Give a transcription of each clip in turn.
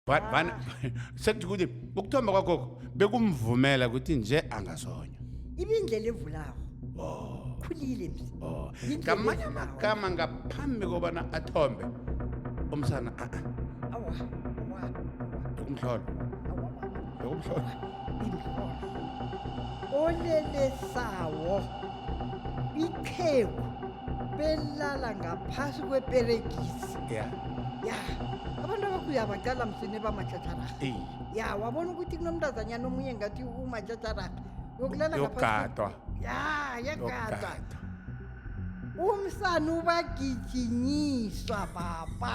But bana sekuthi ukuthi ukuthomba kwakho bekumvumela ukuthi nje angazonywa. ibindlela evulako Oh. khulile msi Oh. Yindlela Ngamanye evulako. amagama ngaphambi kobana athombe umsana a a awa awa awa, ukumhlola. awa Yok mu şu an? olele sawo itheku belala ngaphasi kweperegisi ya ya abantu abakuya baqala msini bamatjhatjharaha Ey. ya wabona ukuthi kunomntazanyana omunye ngathi umatjhatjharaha yokulala ngaphasi kwe- yogadwa ya yagadwa yogadwa umsana ubagijinyiswa baba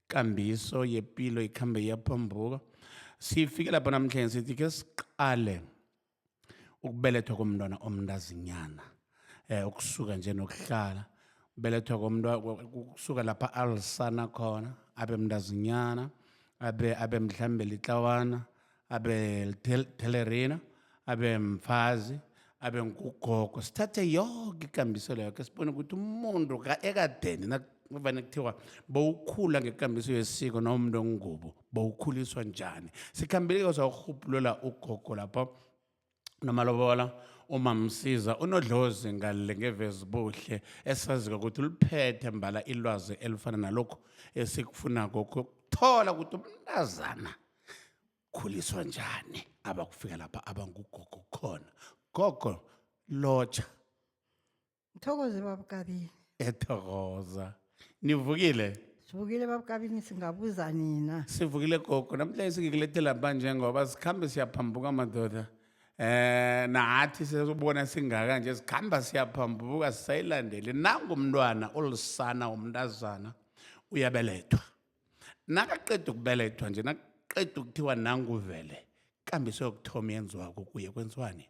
ikambiso yepilo ikhambe iyaphambuka sifike lapho namhlanje sithi ke siqale ukubelethwa komntwana omntazinyana eh ukusuka nje nokuhlala ubelethwa komntwana ukusuka lapha alisana khona abe mntazinyana abe abe mhlambe litlawana abe thelerina abe mfazi abe ngugogo sithathe yoke ikambiselo yakhe sibone ukuthi umuntu ka- ekadeni nakuvane kuthiwa bowukhula ngekambiso yesiko noma umuntu ongubo bowukhuliswa njani sikhambeleke sakurhubhulula ugogo lapho nomalobola umamsiza unodlozi ngale ngevezibuhle esazika ukuthi uliphethe mbala ilwazi elifana nalokhu esikufunako kuthola ukuthi umntazana khuliswa njani abakufika lapha abangugogo khona gogo lotsha Mthokoze baba Kabini. ethokoza nivukile Sivukile baba Kabini singabuza nina. sivukile gogo namhlanje singikulethela ba njengoba sikhambe siyaphambuka madoda eh nathi sesibona singaka nje sikhamba siyaphambuka sisayilandeli nangu umntwana olusana umntazana uyabelethwa nakaqeda ukubelethwa nje nakaqeda ukuthiwa nanguvele kambiso yokuthoma yenziwako kuye kwenziwani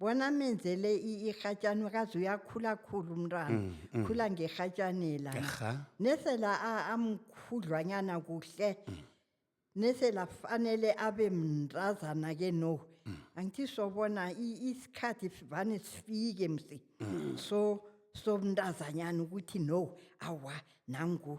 bona amenzele i- irhatjani kazi uyakhula khulu umntwana Mm, mm. khula ngerhatjanela Erha. nesela a- amkhudlwanyana kuhle Mm. nesela fanele abe mntazana ke no Mm. angithi sobona i- isikhathi sivane sifike msi Mm. so so mntazanyana ukuthi no awa nangu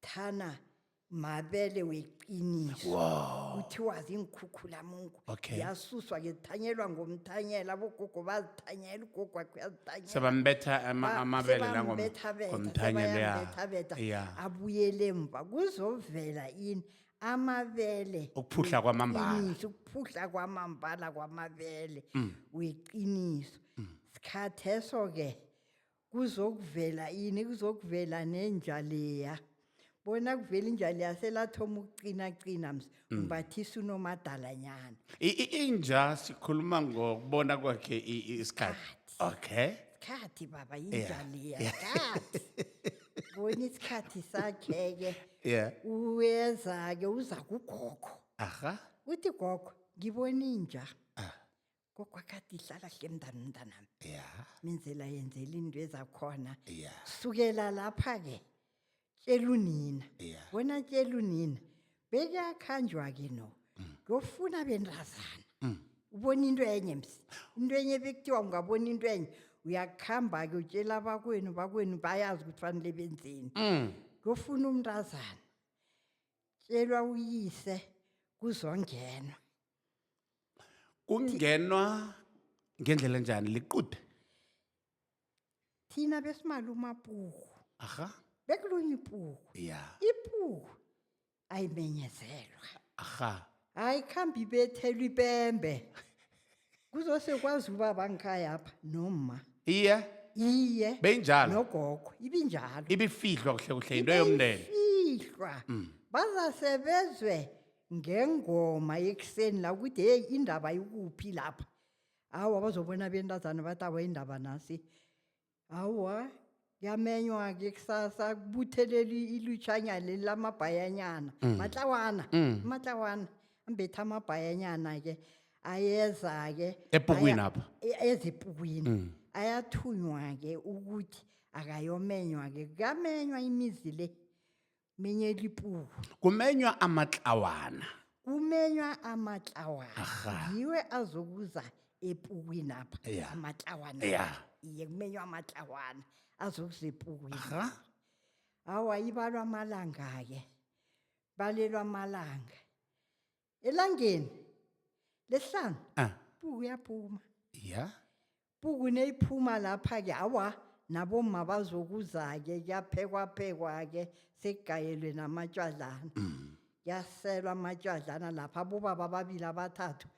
thana mabele weqiniso wow kuthiwa ziinkhukhulamngu Okay. yasuswa ke zithanyelwa ngomthanyela abogogo bazithanyela ugogo wakhe uyazithanyela sebambetha ama- Ba- amabele la ngom- sebambethabetha, ngomthanyelo ya sebayambethabetha, ya abuyele emva kuzovela ini amabele Ukuphuhla kwamambala. Mm. weqiniso, ukuphuhla kwamambala kwamabele weqiniso sikhatheso ke kuzokuvela ini kuzokuvela nenja leya bona kuvela inja leya selathoma ukuqinaqina ms Mm. umbathisa unomadalanyana I- i- inja sikhuluma ngokubona kwakhe i- i- isikhathi okay sikhathi baba inja Yeah, leya yeah. sikhathi bona isikhathi sakhe-ke yeah uyeza-ke uza kugogo aha uthi gogo ngibona inja Ah. kokwakade ihlala hle mntana mntanami ya menzela yenzela into ezakhona ya sukela lapha-ke tshela unina ya wena tshela unina bekuyakhanjwa-ke no ngiyofuna bentazana Mm. ubona into enye msi into enye bekuthiwa ungabona into enye uyakuhamba-ke utshela abakwenu bakwenu bayazi ukuthi fanele benzeni Mm. ngiyofuna umntazana tshelwa uyise kuzongenwa kungenwa ngendlela enjani liqude thina besimali umapuku aha bekulunye ipuku ya ipuku ayimenyezelwa aha ayikhambi ibethelwa ipembe kuzosekwazi uba bangikhayapha noma iye iye beyinjalo nogogo ibinjalo ibifihlwa kuhle kuhle into yomndeni ifihlwa bazasebezwe ngengoma ekuseni la ukuthi heyi indaba ikuphi lapha awa bazobona bentazana bathi awa indaba nasi awa kuyamenywa-ke kusasa kubutheleli ilutshanya leli lamabhayanyana mm. matlawana mm. matlawana ambetha amabhayanyana-ke ayeza-ke epukwini apha e-, ezipukwini mm. ayathunywa-ke ukuthi akayomenywa-ke kuyamenywa imizi le menye dipuo kumenywa amatlawana kumenywa amatlawana Aha. yiwe azokuza epukwinapha Ya. amatlawana Ya. iye kumenywa amatlawana azokuza epukwini Aha. awa ibalwa amalanga-ke balelwa amalanga elangeni lesihlanu Ah, puku uyaphuma ya puku neyiphuma lapha-ke awa nabomma bazokuza-ke kuyaphekwaphekwa-ke sekugayelwe namatshwadlana kuyaselwa amatshwadlana lapha abobaba ababili abathathu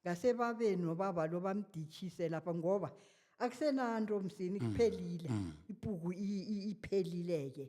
ngasebabeni nobaba lo bamditshise lapha ngoba akusenanto msini kuphelile ipuku i- i- iphelile-ke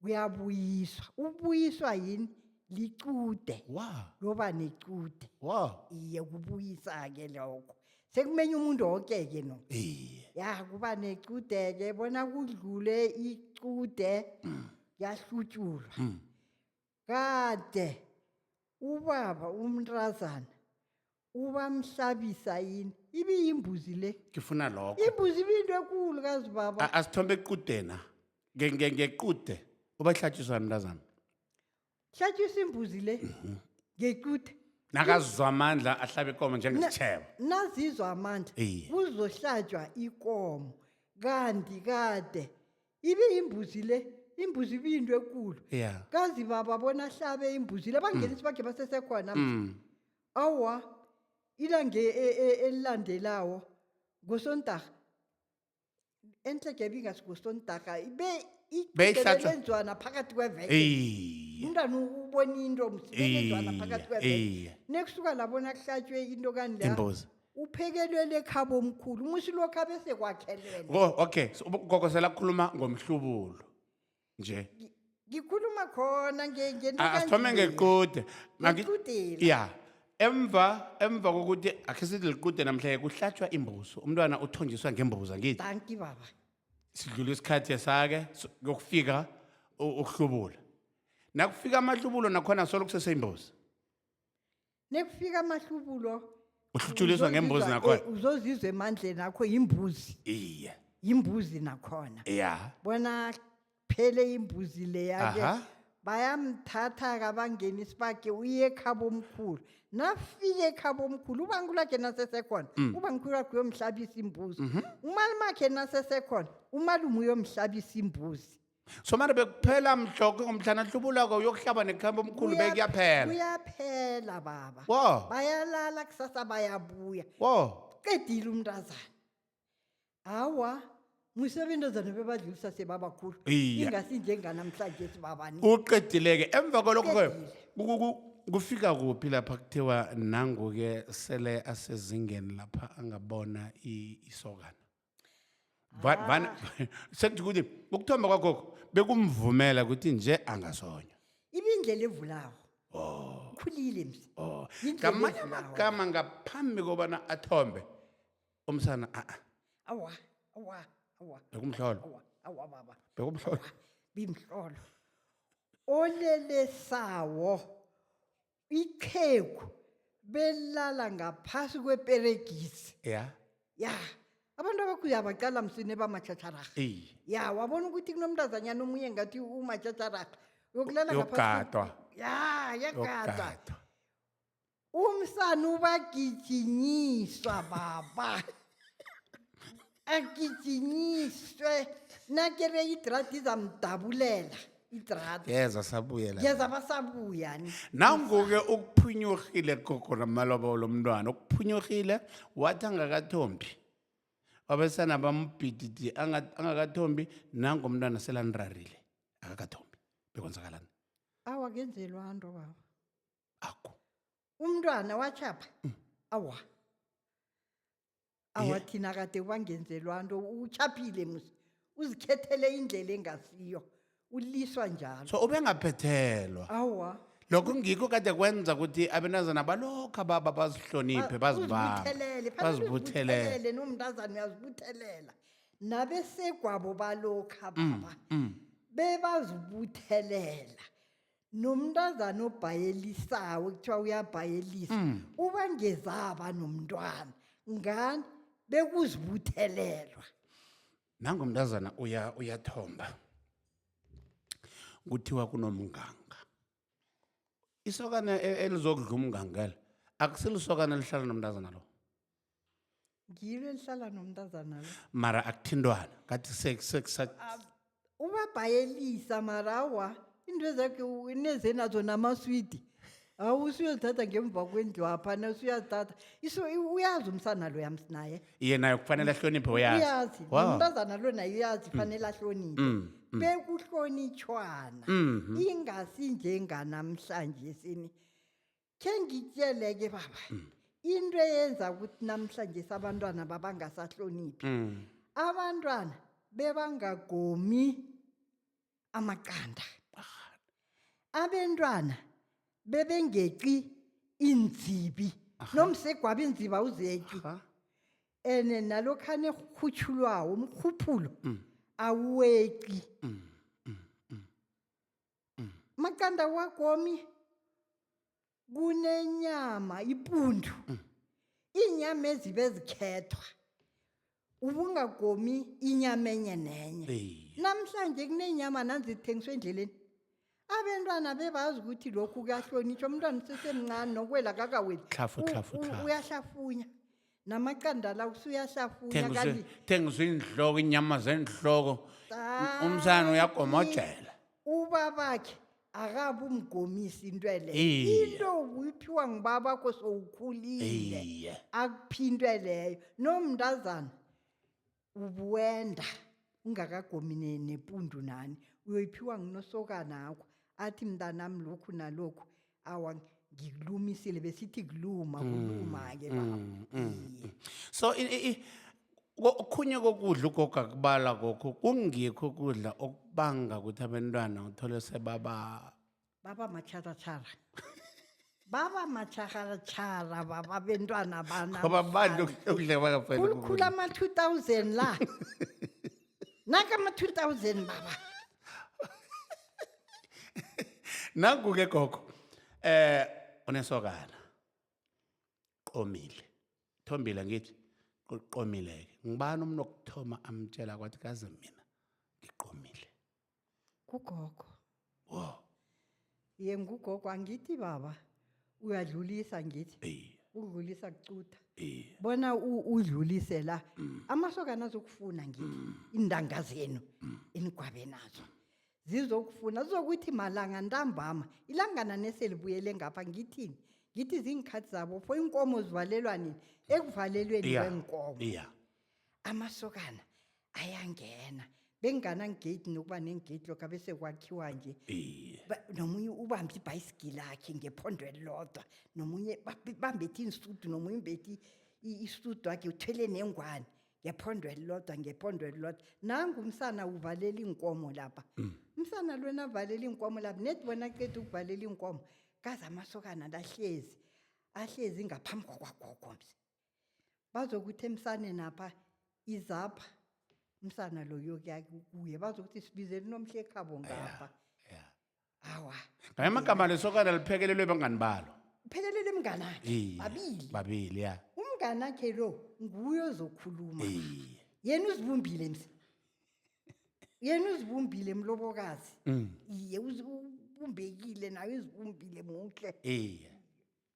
kuyabuyiswa ubuyiswa yini licude wa loba necude wa iye kubuyisa-ke lokho sekumenya umuntu woke-ke no iye ya kuba necude-ke bona kudlule icude yahlutshulwa Mm. kade ubaba umntazana ubamhlabisa yini ibiyimbuzi le ngifuna lokho imbuzi ibiyinto ekulu kazi baba A- asithombe equdena Nge- nge- ngequde ubahlatshiswa mntazami hlatshisa imbuzi le ngecude nakazizwa amandla ahlabe ikomo njengesitshebo nazizwa amandla Iye. kuzohlatshwa ikomo kanti kade ibiyimbuzi le imbuzi ibiyinto ekulu ya kazi baba bona ahlabe imbuzi le bangenisi bakhe basesekhona manje. Mm. Awa, ilanga e- e- e- elilandelako ngosondarha entlege ebingasi ngosondarha ibe Beyihlatjwa. ilenjwana phakathi kweveke Iye. umntana ubona into msibenjwana phakathi Iye. kweveke Iye. nekusuka labona kuhlatshwe into kani la Imbuzi. uphekelwele ekhabo omkhulu umusi lokho abesekwakhelwele Wo- Okay, so ugogo selakhuluma ngomhlubulo. nje ngikhuluma khona nge- ngento A- asithome kanjena. ngequde Maki- Ngequdeni. ya emva emva kokuthi akhe sithi liqude namhlanje kuhlatshwa imbuzo umntwana uthonjiswa ngembuza ngithi danki baba sidlula isikhathi esake so- kuyokufika u- ukuhlubula nakufika amahlubulo nakhona solo kuseseyimbuzi nekufika amahlubulo uhluthuliswa ngembuzi uzozizwa- nakhona eh, uzozizwa emandleni akho yimbuzi iye yimbuzi nakhona ya bona phele imbuzi leya-ke Aha. bayamthatha-ke abangena isibage uye ekhabo omkhulu nafike ekhabo omkhulu ubantu lakhe nasesekhona Mm. ubangikhulu wakhe uyomhlabisa imbuzi Mhm. umali makhe nasesekhona umalume uyomhlabisa imbuzi so manje bekuphela mhloke ngomhlana hlubulako uyokuhlaba nekhamba omkhulu Kuya- bekuyaphela kuyaphela baba wo bayalala kusasa bayabuya wo qedile umntazana hawa muse abentazana bebadlulisa sebabakhulu Iye. ingasi njenganamhlanje sibabani uqedileke emva kwalokho ke Uqedile. ku- ku- ku- kufika kuphi lapha kuthiwa nangu-ke sele asezingeni lapha angabona i- isokana Vana vana sekuthi ukuthi ukuthomba kwagogo bekumvumela ukuthi nje angasonywa. ibindlela evulawo Oh. khulile msi Oh. Yindlela Ngamanye evulawo. amagama ngaphambi kobana athombe umsana a a awa awa awa bekumhlolo awa awa baba bekumhlolo bimhlolo olelesawo iqhegu belala ngaphasi kweperegisi ya ya abantu abakhulu yabaqala msini bamatjhatjharaha iye ya wabona ukuthi kunomntazanyana omunye ngathi umatjhatjharaha yokulala ngaphasi kwe- yogadwa ya yagadwa yogadwa umsana ubagijinyiswa baba agijinyiswe nakere idrati izamdabulela idrati yeza sabuyela yeza basabuya ni nanguke ukuphunyurhile gogo namalobo lomntwana ukuphunyurhile wathi angakathombi abesana bambhididi anga- angakathombi nangu umntwana selanirarile akakathombi bekwenzakalani awa kenzelwa nto baba akho umntwana wachapha awa awathina kade kwangenzelwa nto uchaphile musi uzikhethele indlela engasiyo uliswa njalo so ubengaphethelwa awa lokho ngikho kade kwenza ukuthi abenazana balokhu ababa bazihloniphe bazibambe uzibuthelele bazibuthelele nomntazana uyazibuthelela nabesegwabo balokha baba bebazibuthelela nomntazana obhayelisako kuthiwa uyabhayelisa Mm. uba ngezaba nomntwana ngani bekuzibuthelelwa nango mntazana uya uyathomba kuthiwa kunomnganga isokana e- elizokudla umngangela akusilisokana lihlala nomntazana lo ngilo elihlala nomntazana lo mara akuthintwana ngathi se- se- sa- ubabhayelisa mara awa into ezakhe nezenazo namaswidi awu usuyozithatha ngemva kwendlu apha nasuyazithatha iso uyazi umsana lo yams naye iye naye kufanele ahloniphe uyazi uyazi Wow. Mm. nomntazana lo naye uyazi fanele ahloniphe bekuhlonitshwana ingasi njenganamhlanje sini khe ngitjeleke baba into eyenza ukuthi namhlanje sabantwana babangasahloniphi Mm. abantwana bebangagomi amaqanda abentwana bebengeqi iinzibi nomsegwaba iinzibi awuzeqi Aha. ene nalokhane rhutshulwawo umrhuphulo awuweqi makanda wakomi kunenyama ipundu iinyama ezibe zikhethwa ubungagomi inyama enye nenye Iye. namhlanje kunenyama nanzithengiswa endleleni abentwana bebazi ukuthi lokhu kuyahlonitshwa umntwana usesemncane nokwela kakaweli Tlhafu, U- tlhafu, u- tlhafu. uyahlafunya namaqanda la usuyahlafunya thengizwe kanti thengizwe iinhloko inyama zeenhloko Ah. umsana uyagomojela ubabakhe akabe umgomisi into ele Iye. into uyiphiwa ngubabakho sowukhulile iye akuphintwe leyo nomntazana ubuwenda ungakagomi ne- nepundu nani uyoyiphiwa ngunosokanakho athi mntanami lokhu nalokhu awa ngikulumisile besithi kuluma kuluma-ke baba Iye. so i- i- i- ko- okhunye kokudla ugogo akubala kokho kungikho ukudla okubanga ukuthi abantwana uthole sebaba baba matjharatjhara baba matjharatjhara baba bentwana bana ngoba manje okudleka bakafanele khulukhulu ama-two thousand la naka ama-two thousand baba nangu-ke gogo eh unesokana qomile thombile ngithi qomile-ke ngibani umuntu okuthoma amtshela kwathi kaze mina ngiqomile Kugogo. Wow. Ye ngugogo angithi baba uyadlulisa ngithi. Ey. Udlulisa kucutha. Ey. Bona u- udlulise la amasokana azokufuna ngithi iintanga zenu inigwabe nazo. Zizokufuna zizokuthi malanga ntambama ilangana neselibuyele ngapha ngithini ngithi ziinkhathi zabo fo iinkomo zivalelwa nini ekuvalelweni Yeah. kweenkomo Yeah. amasokana ayangena benginganangeyidi nokuba nengeyidi lokho abese kwakhiwa nje iye Ba- nomunye ubambe ibhayisigili akhe ngephondo elilodwa nomunye bab- bambethi iinsudu nomunye umbethi i- isudu akhe uthwele nengwane ngephondo elilodwa ngephondo elilodwa nangu umsana uvalela iinkomo lapha umsana lona avalela iinkomo lapha nedi bona ceda ukuvalela iinkomo kaze amasokana lahlezi ahlezi ngaphambi kwakwagogo mse bazokuthi emsaneni apha izapha umsana loyo kuye bazokuthi sibizele unomhlekhabo ngapha ya awa ngamanye amagama lesokana liphekelelwe bangani balo phelelele mnganakhe Iye, babili babili ya umnganakhe lo nguye ozokhuluma iye yena uzibumbile msi yena uzibumbile mlobokazi Mm. iye uzi- ubumbekile naye uzibumbile muhle iye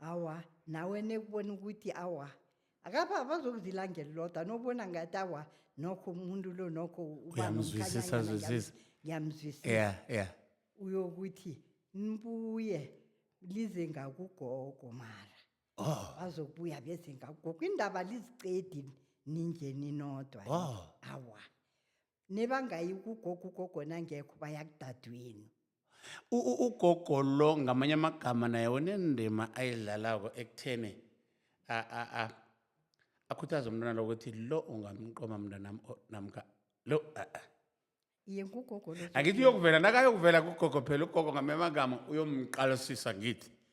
awa nawe nekubona ukuthi awa akapha bazokuzilanga elilodwa nobona ngathi awa nokho umuntu lo nokho uba Uyamzwisisa, nomkhanyanyana, ngiyam- zwisisa. ngiyamzwisisa yeah yeah uyokuthi nibuye lize ngakugogo mara oh bazokubuya beze ngakugogo indaba liziqedi ninje ninodwa Oh. awa nebangayi kugogo ugogo nangekho baya kudadwenu U- u- ugogo lo ngamanye amagama naye unendima ayidlalako ekutheni a- a- a- akhuthaze umntwana lo ukuthi lo ungamqoma mntanam namka lo a- a. iye ngugogo lo angithi uyokuvela nakayokuvela kugogo phela ugogo ngamanye amagama uyomqalisisa ngithi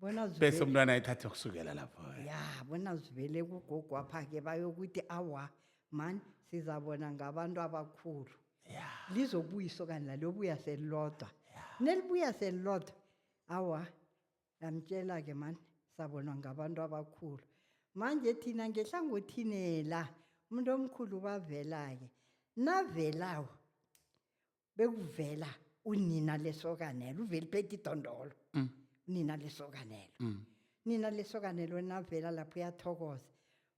bona bese zivele- umntwana ayithathe kusukela lapho ya bona zivele kugogo apha-ke bayokuthi awa mani sizabona ngabantu abakhulu lizobuya isokani lalobuya selilodwa nelibuya selilodwa awa lamtshela-ke mani sabonwa ngabantu abakhulu manje thina ngehlangothini la umuntu omkhulu bavela-ke navelawo bekuvela unina lesokanelo uveli phethe idondolo mm. unina lesokanelo mm. nina lesokanelo navela lapho uyathokoza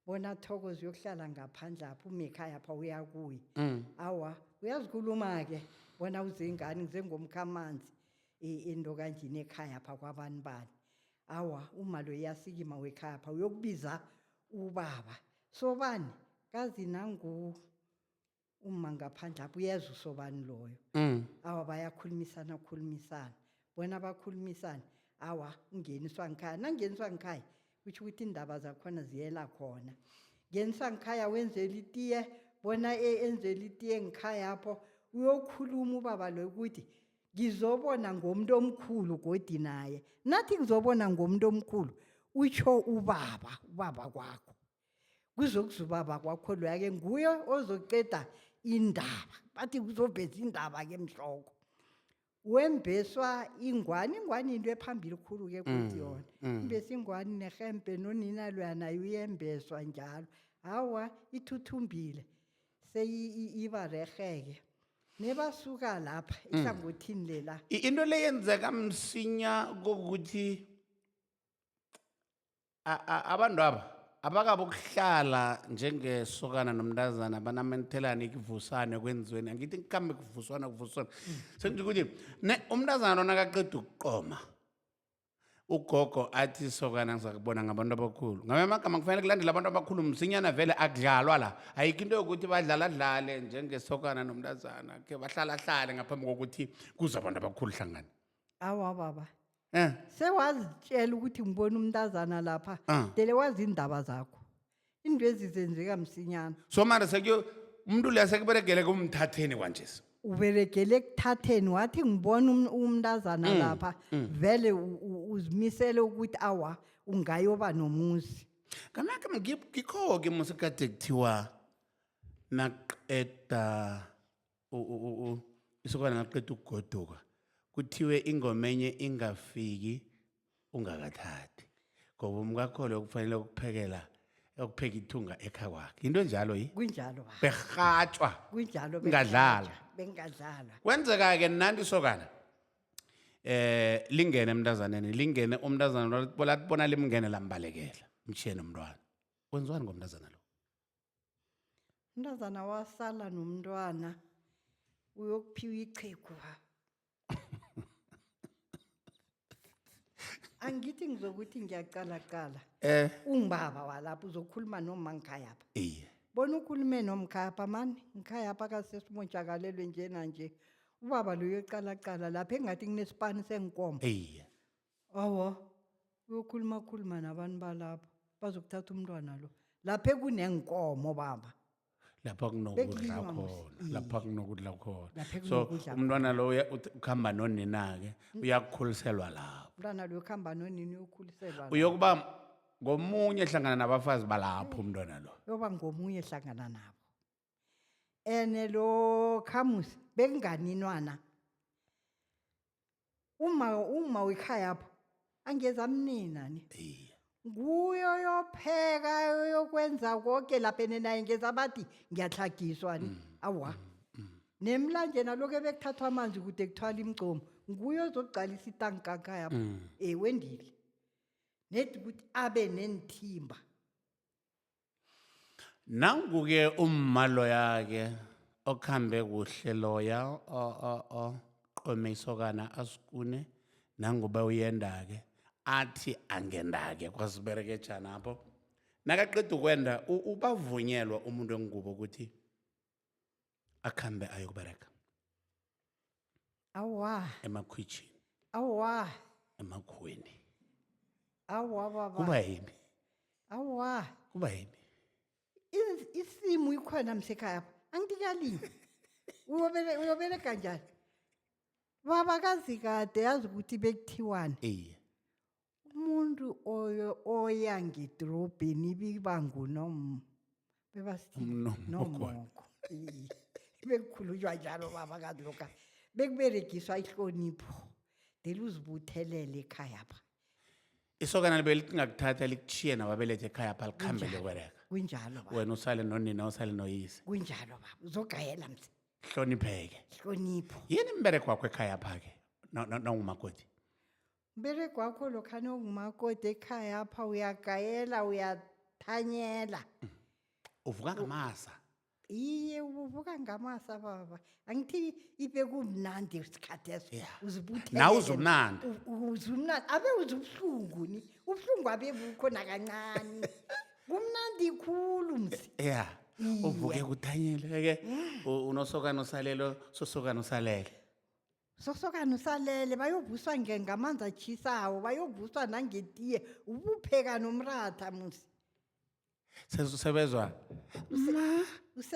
bona thokoza uyokuhlala ngaphandle apho umekhaya pha uyakuye mm. awa uyazikhuluma-ke bona uzengani ngizengomkhamanzi into kanjini ekhaya pha kwabani bani awa umalo iyasikima wekhaya pha uyokubiza ubaba sobani kazi nangu umma ngaphandle apho uyeza usobani loyo Mm. awa bayakhulumisana khulumisana bona bakhulumisane awa ungeniswa ngikhaya nangeniswa ngikhaya kutho ukuthi iindaba zakhona ziyela khona ngeniswa ngikhaya wenzela itiye bona e- enzela itiye ngikhaya apho uyokhuluma ubaba loyo ukuthi ngizobona ngomuntu omkhulu godi naye nathi ngizobona ngomuntu omkhulu utsho ubaba ubaba kwakho kuzokuzubaba kwakho loya-ke nguye ozoceda indaba bathi kuzobheza indaba-ke mhloko wembeswa ingwani ingwani into ephambili khulu-ke kuthi mm, yona mm. imbesa ingwani nehempe nonina loya naye uyembeswa njalo hawa ithuthumbile seyiba reheke nebasuka lapha mm. ihlangothini lela into leyenzeka msinya kokuthi A- a- abantwaba abakabokuhlala njengesokana nomntazana banamanithelane kuvusane kwenziweni angithi ngikhambe kuvuswana kuvuswana sengithi ukuthi ne umntazana onakaqeda ukuqoma ugogo athi isokana ngizakubona ngabantu abakhulu ngame amagama kufanele kulandela abantu abakhulu msinyana vele akudlalwa la ayikho into yokuthi badlala dlale njengesokana nomntazana ke bahlala hlale ngaphambi kokuthi kuze abantu abakhulu hlangana awa baba Eh, sewazitshela ukuthi ngibona umntazana lapha Ah. dele wazi iindaba zakho into ezizenzeka msinyana so mara sekuyo umuntu leya sekuberegele kumthatheni kwanjesi uberegele ekuthatheni wathi ngibona um- umntazana Mm, lapha vele u- u- uzimisele ukuthi awa ungayoba nomuzi kanake ngikho-ke musekade kuthiwa naqeda u- u- u- isokana naqeda ukugoduka kuthiwe ingoma enye ingafiki ungakathathi ngoba umkakho loyo kufanele ukuphekela ukupheka ithunga ekha kwakhe yinto enjalo yi kunjalo baba berhatshwa kunjalo Ngadlala. bengadlala. bengadlala kwenzeka-ke nanti sokana eh lingene emntazaneni lingene umntazana lo- lathi bona limngene lambalekela mshiyeni umntwana kwenziwani ngomntazana lo umntazana wasala nomntwana uyokuphiwa ichegu ha angithi ngizokuthi ngiyaqalaqala Eh, ungibaba walapho uzokhuluma noma ngikhayapha iye. bona ukhulume nomkhayapha mani ngikhayapha kasesimontshakalelwe nje nanje ubaba loyo eqalaqala lapha engathi kunesipani senkomo Iye. awa uyokhulumakhuluma nabantu balapho bazokuthatha umntwana lo lapha ekuneenkomo baba lapha kunokudla Bekulinywa khona musi- lapha kunokudla khona Lapha so kunokudla umntwana lo uya- uth- ukuhamba nonina-ke uyakukhuliselwa lapho umntwana lo yokuhamba nonini uyokhuliselwa la. uyokuba ngomunye hlangana nabafazi balapho umntwana lo yoba ngomunye hlangana nabo ene lokha musa bekunganinwana uma uma wekhayapho angeze amnina ni iye nguyo yopheka yokwenza konke lapha ene naye ngeza bathi ngiyatlhagiswa ni awa nemlanje naloku ebekuthathwa amanzi kude kuthwala imigcomo nguyo ozokuqalisa itankakhayapho Mm. ewendile nedi ukuthi abe neenthimba nanguke umma loya-ke okhambe kuhle loya o- o- oqome isokana asikune nanguba uyenda-ke athi angenda-ke kwasiberekejana apho nakaqeda ukwenda u- ubavunyelwa umuntu wengubo ukuthi akhambe ayokubereka awa emakhwitjhini awa emakhuweni awa baba kuba yini awa kuba yini Is- isimu ikhona msekhaya pha angikalini Uyobele- uyobereka njani baba kazi kade yazi ukuthi bekuthiwani iye umuntu oyo oya ngedorobheni ibiba ngunom bebasithi Umnomoko. nomoko Iye. bekukhulunywa njalo baba kazi lokha bekuberegiswa ihlonipho dele uzibuthelele ekhaya pha isokana libe lingakuthatha likuthiye nababelethe ekhaya pha likhambele Kunjalo. kwereka kunjalo baba wena usale nonina usale noyise kunjalo baba uzogayela mse hlonipheke hlonipho yini imbereko wakho ekhaya pha-ke No- no- nawumakoti Mbereko wakho lokha nongumakoti ekhaya apha uyagayela uyathanyela. Uvuka ngamaza. Iye ubuvuka ngamasa baba. Angithi ibe kumnandi isikhathi eso. Yeah. Uzibuthele. Nawe uzumnandi. Uzumnandi abe uzubuhlungu ni. Ubuhlungu abe bukho nakancane. Kumnandi khulu msi. Yeah. Uvuke kuthanyeleke. Unosokana usalelo, sosokana usalele. Sosokana usalele bayovuswa nge- ngamanzi atshisawo bayovuswa nangetiye ubupheka nomratha musi sesebezwa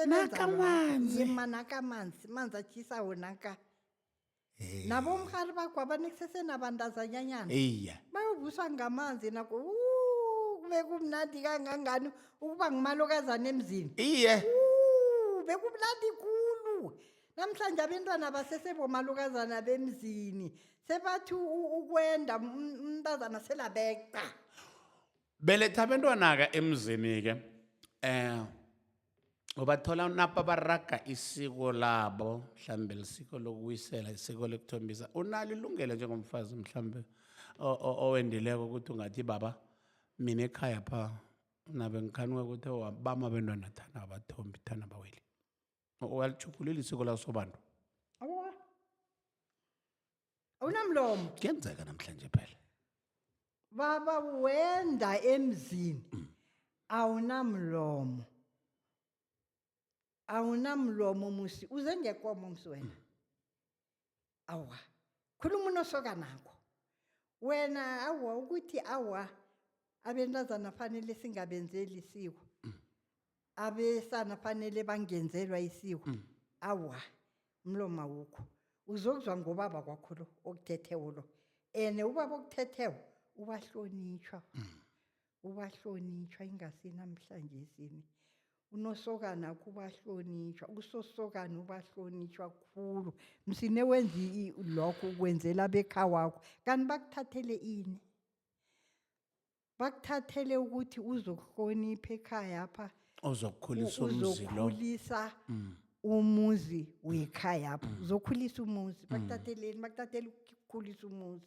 Nakamanzi. usebenzama nakamanzi manzi atshisawo naka nabomrhari bakho abanekuseseenabantazanyanyana iya bayovuswa ngamanzi nako "Uu, kube kumnandi kangangani ukuba ngumalokazana emzini iye Uu, bekumnandi khulu Namhlanje abentwana basesebomalukazana bemzini sebathi u- ukwenda um- umntazana selabeqa. beletha abentwana-ke emzini-ke um ubathola napa baraga isiko labo mhlawumbe lisiko lokuwisela isiko lokuthombisa unalo ilungelo njengomfazi mhlawumbe o- o- owendileko ukuthi ungathi baba mina ekhaya pha nabe ngikhanuka ukuthi bama abentwana thana abathombi thana baweli walitjhugulula isiko laso bantu awa awunamlomo kuyenzeka namhlanje phela baba wenda emzini mm. awunamlomo awunamlomo musi uze ngekomo musi wena awa khuluma unosokanakho wena awa ukuthi awa abentazana fanele singabenzeli isiko abesana fanele bangenzelwa isiko awa umlomo awukho uzokuzwa ngobaba kwakho lo okuthethewo lo ene ubaba okuthethewo ubahlonitshwa ubahlonitshwa ingasi namhlanje sini unosokana kubahlonitshwa usosokana ubahlonitshwa khulu msine wenza i- lokho ukwenzela bekhawakho kanti bakuthathele ini bakuthathele ukuthi uzokuhlonipha ekhaya pha ozokukhulisa umzi lo uzokhulisa umuzi wekhaya pha uzokhulisa umuzi bakuthatheleni bakuthathele ukukhulisa umuzi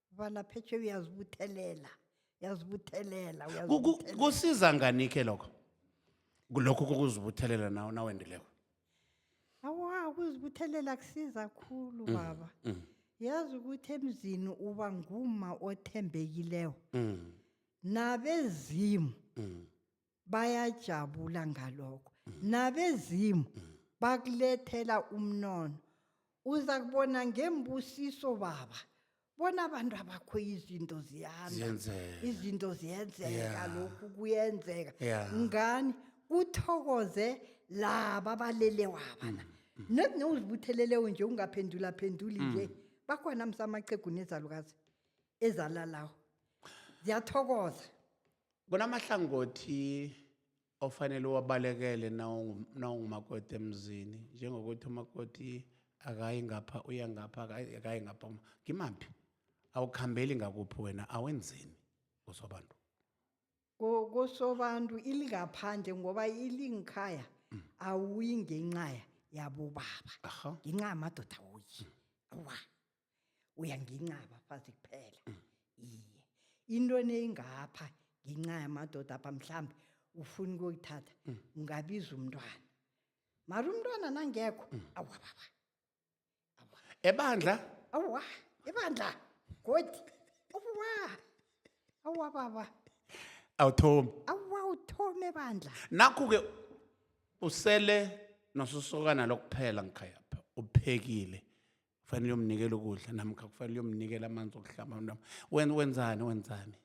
balaphethe uyazibuthelela uyazibuthelela Ku- ku- uyazibuthelela. kusiza nganike lokho lokho kokuzibuthelela nawe nawendileko awa ukuzibuthelela kusiza khulu baba Mm, yazi ukuthi emzini uba nguma othembekileko mm, nabezimu mm. bayajabula ngalokho nabezimu bakulethela umnono uza kubona ngembusiso baba bona abantu abakho izinto ziyanda Ziyenzeka. izinto ziyenzeka Yeah. lokhu kuyenzeka Yeah. ngani kuthokoze laba abalele waba na not newuzibuthelelewo nje ungaphendula phenduli nje bakhona msamaqhegu nezalukazi ezalalawo ziyathokoza Kunamahlangothi ofanele uwabalekele nawungumakoti emzini njengokuthi umakoti akayi ngapha uya ngapha akayi ngapha ngimaphi awukhambeli ngakuphi wena awenzeni kusobantu kusobantu ilingaphandle ngoba ilingikhaya mm. awuyi ngenxaya yabobaba ngenxa yamadoda wuyi awa uyanginqaba fazi kuphela iye into eneyingapha ngenxa yamadoda apha mhlawumbi ufuna ukuyithatha ungabiza umntwana mara umntwana nangekho awa baba awa ebandla awa ibandla godi awa awa baba awuthomi awa uthome bandla nakho-ke usele nososokana lokuphela ngikhayapha uphekile kufanele uyomnikela ukudla namkha kufanele uyomnikela amanzi okuhlamba mntwana wen wenzani wenzani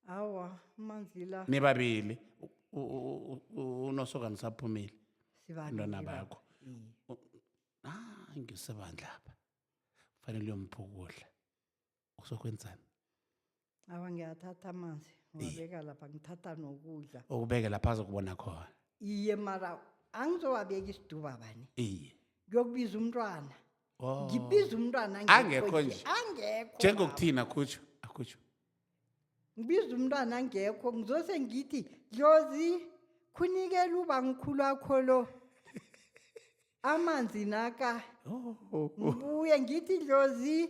awa amanzi la nibabili u- u- u- unosokana usaphumile sibabili Abantwana baba. bakho. Iye. ah ngisebandla apha kufanele uyomphukudla uzokwenzani awa ngiyathatha amanzi ngiwabeka lapha ngithatha nokudla ukubeke lapha azokubona khona iye mara angizowabeka isiduba bani iye ngiyokubiza umntwana Oh. ngibiza umntwana Angekho angekho nje. nje. angekho njengokuthini akhutsho akhutsho ngibiza umntwana angekho ngizose ngithi dlozi khunikela ubangikhulu wakho lo amanzi naka Oh, ngibuye ngithi dlozi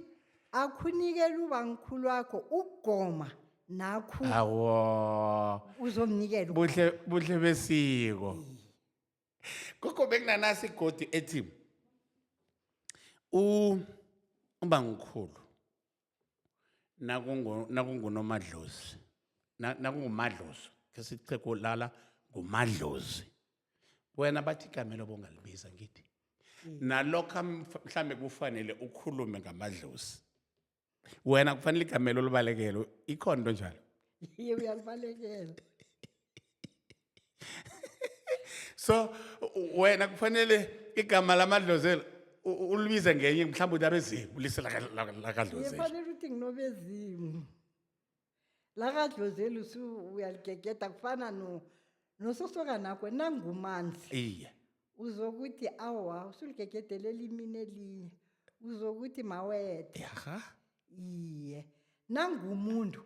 akhunikela ubamkhulu wakho ukugoma nakhu awo uzomnikela uku- buhle buhle besiko gogo bekunanasi igodi ethi u ubamkhulu nakungu- nakungunomadlozi na- nakungumadlozi khe siche kulala ngumadlozi wena bathi igama elobo ungalibiza ngithi nalokho amf- mhlambe kufanele ukhulume ngamadlozi wena kufanele igama elo libalekele ikhona into njalo Iye uyalibalekela. so wena kufanele igama lamadlozelo u- u- ulibize ngenye mhlawumbe uthi abezimu lise laka- laka- lakadlozelo ngifanele ukuthi nginobezimu lakadlozeli usu uyaligegeda kufana no nososokanakho nangumanzi iye uzokuthi awa usuligegedelela imini elinye uzokuthi mawethe yaha iye nangumuntu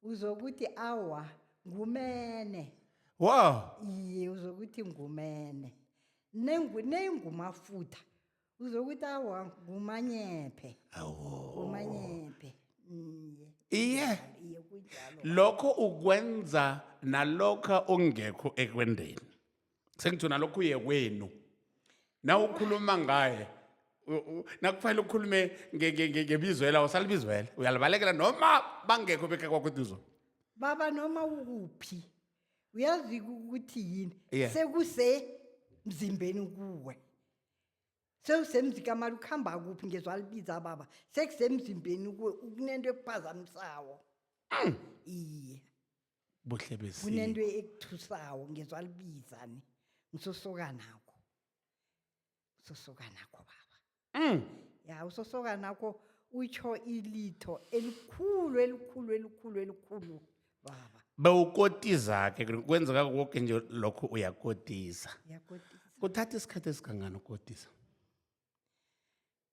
uzokuthi awa ngumene wow iye uzokuthi ngumene Nengu- neyingumafutha uzokuthi awa ngumanyephe awo ngumanyephe iye iye iye kunjalo lokho ukwenza nalokha ungekho ekwendeni sengitsho nalokho uye kwenu na ukhuluma ngaye u- u- nakufanele ukhulume nge- nge- nge- ngebizwela usalibizwela uyalibalekela noma bangekho bekhe kwakuduzo baba noma ukuphi uyazi ukuthi yini Yeah. sekusemzimbeni kuwe sewusemzikamali ukuhamba kuphi ngezwa libiza baba sekusemzimbeni kuwe ukunento ekuphazamisawo iye buhle besiko kunento ekuthusako ngizwa libiza ni ngisosokanakho usosokanakho baba Mm. ya usosokanakho utsho ilitho elikhulu elikhulu elikhulu elikhulu baba bewukotiza-ke kwenzeka koke nje lokho uyakotiza yakotisa kuthatha isikhathi esingangani ukotisa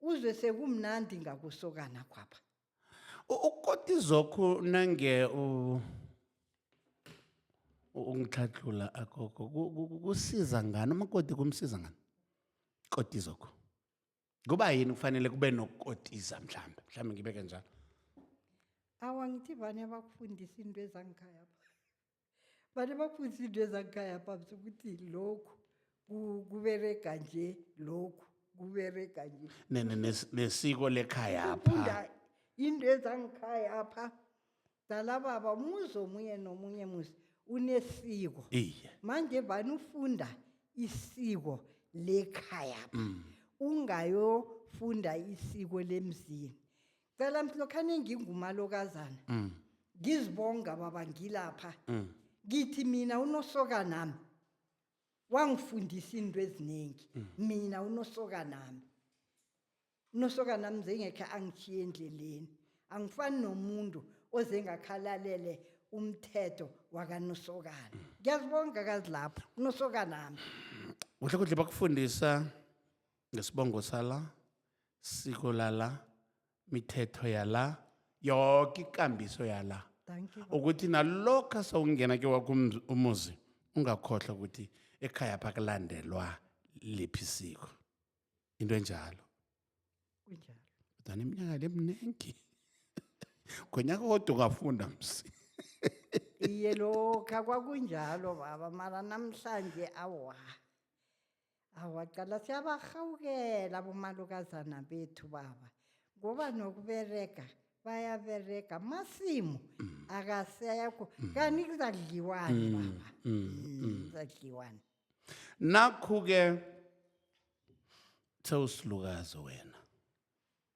uzwe sekumnandi ngakusokana kwapha U- ukoti zokhu nange u- u- ungitlhatlhula agogo ku- ku- ku- kusiza ngani umakoti kumsiza ngani koti zokhu kuba yini kufanele kube nokukotiza mhlawumbe mhlawumbe ngibeke njalo awa ngithi vane abakufundisa into ezangikhaya Bani baphuzisa into ezakukhaya phamsi ukuthi lokhu ku- kuberega nje lokhu kuberega nje Ne- ne- nes- nesiko lekhayapha funda into ezangikhaya apha dalababa umuzi omunye nomunye muzi unesiko iye manje vani ufunda isiko lekhaya pha ungayofunda isiko lemzini cela mthi lokhu aningingumalokazana Mm. ngizibonga baba ngilapha Mm. ngithi mina unosoka nami wangifundisa into eziningi mina unosoka nami unosoka nami zengekhe angishiye endleleni angifani nomuntu oze ngakhalalele umthetho wakanosokana ngiyazibonga kazi lapho unosoka nami kuhle kuhle bakufundisa ngesibongo sala siko lala mithetho yala yoke ikambiso yala Dankie. ukuthi nalokha sawungena ke wakho umz- umuzi ungakhohlwa ukuthi ekhaya phakulandelwa liphi isiko into enjalo Kunjalo. kodwana iminyaka le mningi ngonyaka kodwa ungafunda msi Iye lokha kwakunjalo baba mara namhlanje awa. awaqala siyabarhawukela abomalukazana bethu baba ngoba nokuberega bayaberega masimu mm. akasekho mm. kanti kuzadliwani mm. baba kuzadliwani nakhu-ke sewusilukazi wena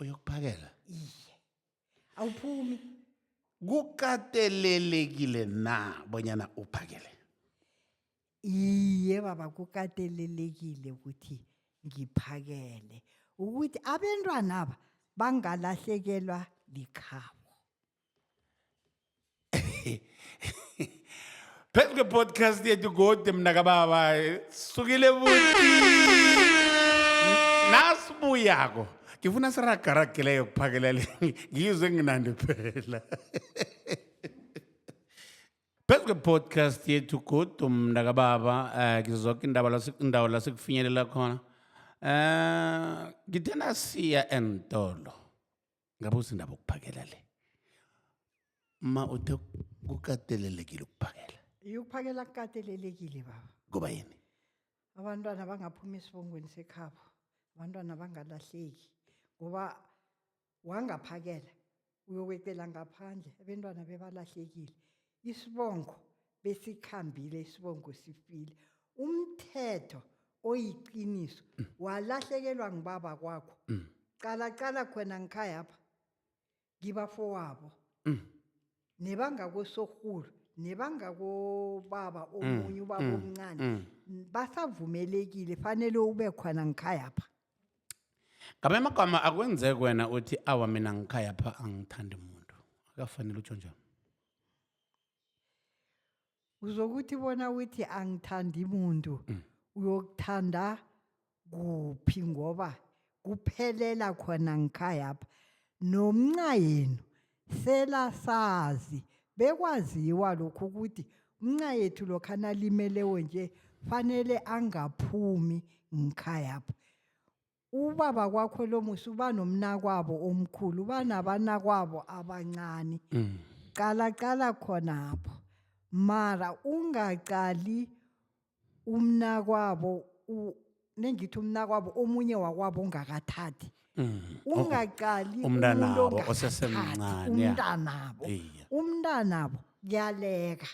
uyokuphakela iye awuphumi kukatelelekile na bonyana uphakele iye baba kukatelelekile ukuthi ngiphakele ukuthi abentwanaba bangalahlekelwa likhabo phezu kwepodcast yethu gode mna kababa sukile buti nasibuyako ngifuna siragaragileyo kuphakela le ngizwe nginandi phela phezu kwepodcast yethu godu mna kababa um eh, ngizoke indaba indawo lasikufinyelela khona um eh, ngithena siya entolo ngabe usindaba ukuphakela le ma uthe kukatelelekile ukuphakela yokuphakela kukatelelekile baba kuba yini abantwana bangaphuma esibongweni sekhabo abantwana bangalahleki ngoba wangaphakela uyokwecela ngaphandle abentwana bebalahlekile isibongo besikhambile isibongo sifile umthetho oyiqiniso mm. walahlekelwa ngibaba kwakho mm. cala cala khona ngikhaya pha ngibafowabo mm. nebangakosorhulu nebangakobaba omunye ubaba omncane basavumelekile fanele ube khona ngikhaya pha ngamanye amagama akwenzeki wena uthi awa mina ngikhaya pha angithandi muntu akafanele utsho njani uzokuthi bona uthi angithandi muntu uyokuthanda kuphi ngoba kuphelela khona ngikhayapha nomnca yenu selasazi bekwaziwa lokhu ukuthi umnca yethu lokhu analimelewo nje fanele angaphumi ngikhayapha ubaba kwakho lo musi uba nomnakwabo omkhulu uba nabanakwabo abancane Mm. qala qala khonapho mara ungaqali umnakwabo u- nengithi umnakwabo omunye wakwabo ongakathathi Mm. ungaqali umntanabo umuntu ongakathathi, osesemncane, ya. umntanabo Iye. umntanabo kuyaleka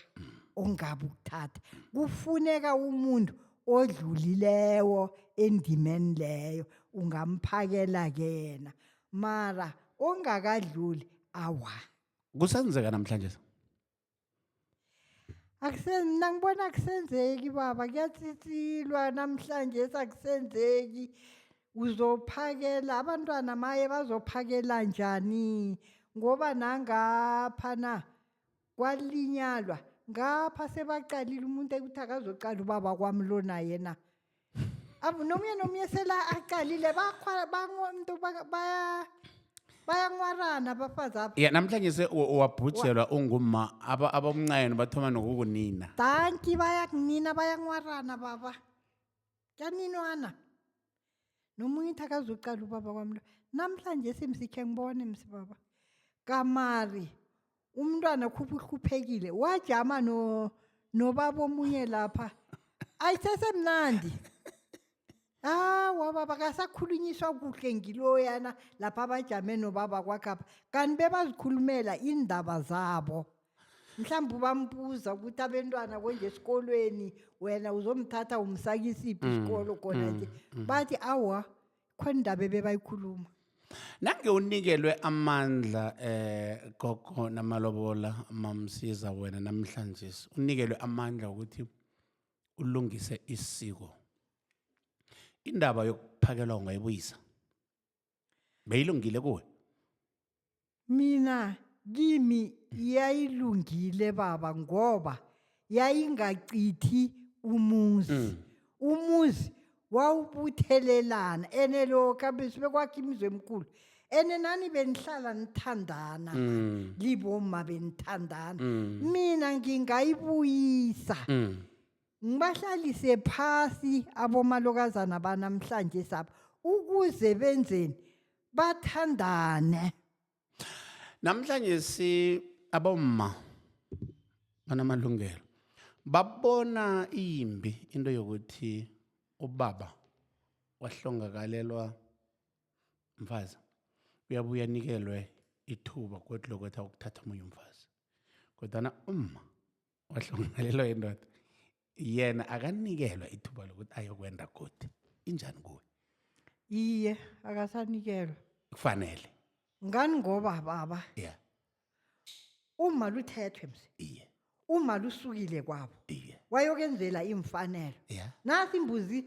ongabe ukuthatha kufuneka umuntu odlulileko endimeni leyo ungamphakela kena mara ongakadluli awa kusenzeka namhlanje akusen mina ngibona akusenzeki baba kuyatsitsilwa namhlanje sakusenzeki uzophakela abantwana maye bazophakela njani ngoba nangapha na kwalinyalwa ngapha sebaqalile umuntu ekuthi akazoqala ubaba kwami lo naye na Abu- nomunye nomunye sela aqalile bakhwa- bango- mntu ba- baya- bayanwarana abafazi apha ya namhlanje se u- uwabhujelwa ungumma aba- abomncayeni bathoma nokukunina danki bayakunina bayanwarana baba kyaninwana nomunye ithi akazuqala ubaba kwami lo namhlanje simsikhe ngibone msibaba kamari umntwana khupha uhluphekile wajama no nobaba omunye lapha ayisesemnandi hawa baba kasakhulunyiswa kuhle ngiloyana lapha bajame nobaba kwakhapha kanti bebazikhulumela iindaba zabo mhlawumbe ubambuza ukuthi abentwana konje esikolweni wena uzomthatha umsakisiphi mm, isikolo khona mm, nje mm. bathi awa khona indaba ebebayikhuluma nange unikelwe amandla eh gogo namalobola mamsiza wena namhlanje unikelwe amandla ukuthi ulungise isiko indaba yokuphakelwa ungayibuyisa beyilungile kuwe mina kimi yayilungile baba ngoba yayingachithi umuzi Mm. umuzi wawubuthelelana ene lokha besibekwakhe imizi emkhulu ene nani benihlala nithandana Mm. libomma benithandana Mm. mina ngingayibuyisa Mm. ngibahlalise phasi abomalokazana banamhlanje sabo ukuze benzeni bathandane namhlanje si abomma banamalungelo babona imbi into yokuthi ubaba wahlongakalelwa mfazi uyabuya nikelwe ithuba kodwa lokwethi ukuthatha omunye umfazi kodwana umma wahlongalelwa yindoda yena akanikelwa ithuba lokuthi ayokwenda godi injani kuwe iye akasanikelwa kufanele ngani ngoba baba ya uma luthethwe mse iye uma lusukile kwabo iye wayokenzela iimfanelo ya nasi imbuzi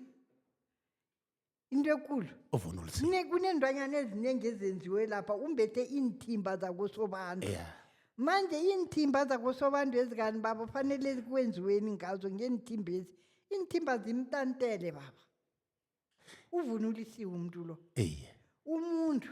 into ekulu ovunula isiko Ne- kuneenlwanyana eziningi ezenziwe lapha umbethe iinthimba zakosobanda ya manje iinthimba zakosobanda ezikani baba fanele kwenziweni ngazo ngeenthimbezi iinthimba zimtantele baba uvunulisiwe umuntu lo eye umuntu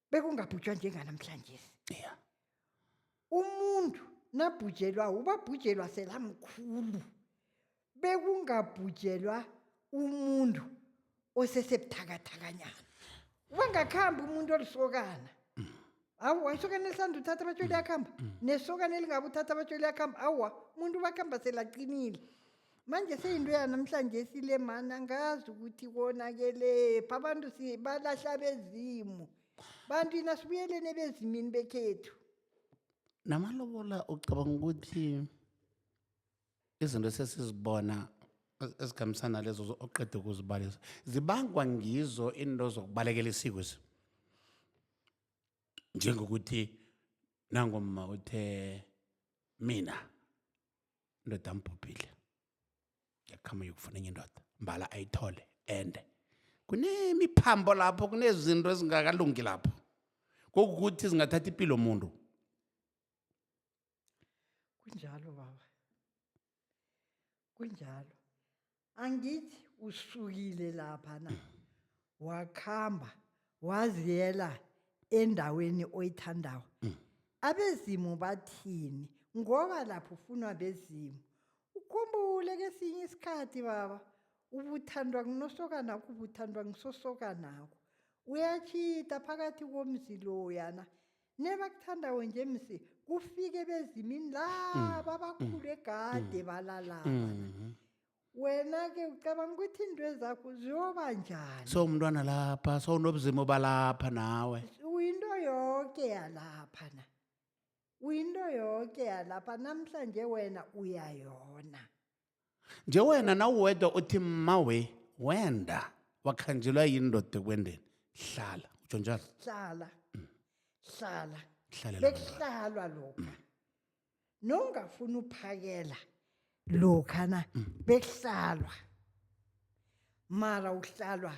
bekungabhujwa njenganamhlanje yeah. umuntu nabhujelwa ubabhujelwa selamkhulu bekungabhujelwa umuntu osesebuthakathakanyana ubangakhambi umuntu olisokana awa isokana elisanda uthatha abatsholi yakhamba nesokana elingabe uthatha abatsholi yakhamba awa umuntu ubakhamba selaqinile manje seyinto yanamhlanje sile mani angazi ukuthi konakelephi abantu si- balahla bezimu bantu yina sibuyeleni ebezimini bekhethu namalobola ucabanga ukuthi izinto esesizibona ez- ezikhambisana lezo zo- oqeda ukuzibalisa zibangwa ngizo into zokubalekela isiko esi njengokuthi nangomma uthe mina indoda ambhubhile ngiyakhama yokufuna enye indoda mbala ayithole ende kunemiphambo lapho kunezinto ezingakalungi lapho kokukuthi zingathatha impilo muntu kunjalo baba kunjalo angithi usukile lapha na wakhamba waziyela endaweni oyithandawo abezimu bathini ngoba lapho ufunwa bezimu ukhumbule kesinye isikhathi baba ubuthandwa kunosokanakho ubuthandwa ngisosokanakho uyatshita phakathi komzi loyana nebakuthandako nje msi kufike bezimini laba abakhulu egade balalaba Mhm. wena-ke ucabanga ukuthi into ezakho ziyoba njani so umntwana lapha so unobuzima obalapha nawe uyinto yoke yalapha na uyinto yoke yalapha namhlanje wena uyayona nje wena nawuwedwa uthi mmawe wenda wakhanjelwa yini ndoda ekwendeni hlala utsho njalo hlala hlala Hlalela bekuhlalwa lokha nongafuni uphakela lokha na bekuhlalwa mara uhlalwa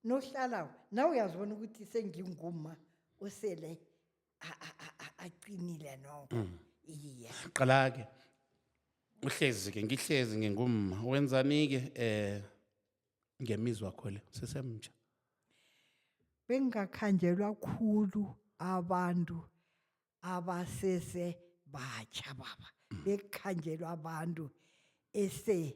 nohlalawo nawe uyazibona ukuthi senginguma osele a- a- a- a- aqinile noko iye qala-ke uhlezi-ke ngihlezi ngingumma wenzani-ke um ngemizwa kho le sisemtsha bengingakhanjelwa khulu abantu abasese batsha baba bekukhanjelwa abantu ese